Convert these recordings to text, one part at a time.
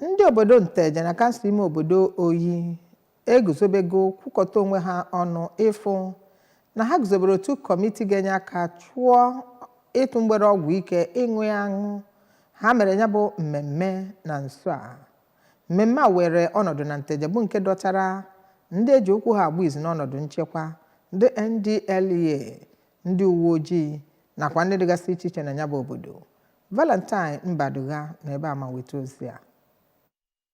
ndị obodo nteje na kansụl ime obodo oyi eguzobego kwukọta onwe ha ọnụ ịfụ na ha guzobere otu kọmiti ga-enye aka chụọ ịtụ mgbere ọgwụ ike ịṅụ ya aṅụ ha mere ya bụ mmemme na nso a mmemme a were ọnọdụ na nteje bụ nke dọtara ndị eji okwu ha agba izu n'ọnọdụ nchekwa ndị ndlea ndị uwe ojii nakwa ndị dịgasị iche iche na ya bụ obodo Valentine Mbadugha na ebe a ma weta ozi a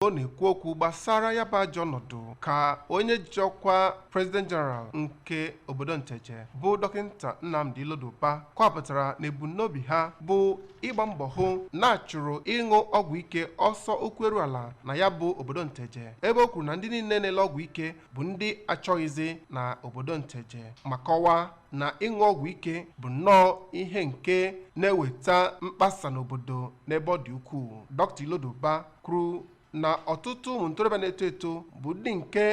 ọ na-ekwu okwu gbasara ya bụ ajọ ọnọdụ ka onye ji ọkwa president general nke obodo nteje bụ dọkịta nnamdi iloduba kọwapụtara na ebumnobi ha bụ ịgba mbọ hụ na a chụrụ ịṅụ ọgwụ ike ọsọ ụkwụ eru ala na ya bụ obodo nteje ebe o kwuru na ndị niile na-ele ọgwụ ike bụ ndị a chọghịzi na obodo Nteje ma kọwaa na ịṅụ ọgwụ ike bụ nnọọ ihe nke na-eweta mkpasa n'obodo n'ebe ọ dị ukwuu Dr. Iloduba kwuru na ọtụtụ ụmụ ntorobịa na-eto eto bụ ndị nke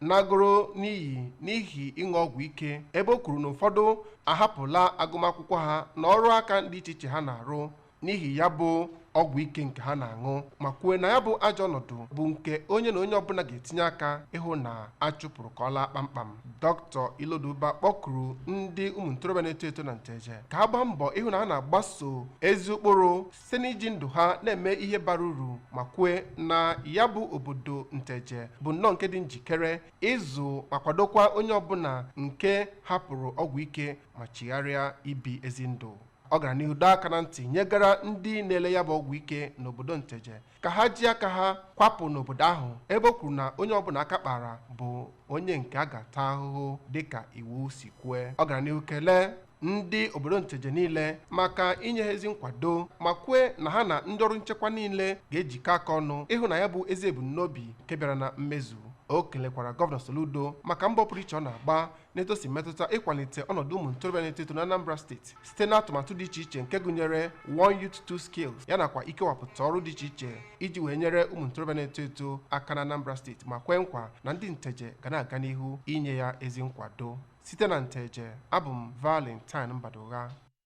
nagoro n'iyi n'ihi ịṅụ ọgwụ ike ebe o kwuru na ụfọdụ ahapụla agụmakwụkwọ ha na ọrụ aka dị iche iche ha na-arụ n'ihi ya bụ ọgwụ ike nke ha na-aṅụ ma kwue na ya bụ ajọ ọnọdụ bụ nke onye na onye ọbụla ga-etinye aka ịhụ na a chụpụrụ ka ọ laa kpamkpam dr iloduba kpọkuru ndị ụmụ ntorobịa na-eto eto na nteje ka ha gbaa mbọ ịhụ na ha na-agbaso ezi ụkpụrụ site n'iji ndụ ha na-eme ihe bara uru ma kwue na ya bụ obodo nteje bụ nnọọ nke dị njikere ịzụ ma kwadokwa onye ọbụla nke hapụrụ ọgwụ ike ma chigharịa ibi ezi ndụ ọ gara n'ihu dọọ aka na ntị nyegara ndị na-ele ya bụ ọgwụ ike n'obodo nteje ka ha ji aka ha kwapụ n'obodo ahụ ebe o kwuru na onye ọbụla aka kpara bụ onye nke a ga-ata ahụhụ dịka iwu si kwue ọ gara n'ihu kelee ndị obodo nteje niile maka inye ha ezi nkwado ma kwue na ha na ndị ọrụ nchekwa niile ga-ejikọ aka ọnụ ịhụ na ya bụ ezi ebumnobi nke bịara na mmezu o kelekwara gọvanọ soludo maka mbọ pụrụ iche ọ na-agba n'etu o si metụta ịkwalite ọnọdụ ụmụ ntorobịa na-eto eto n'Anambra steeti site n'atụmatụ dị iche iche nke gụnyere One Youth Two Skills ya nakwa ikewapụta ọrụ dị iche iche iji wee nyere ụmụ ntorobịa na-eto eto aka n'Anambra steeti ma kwee nkwa na ndị nteje ga na-aga n'ihu inye ya ezi nkwado site na nteje abụ m Valentine Mbadugha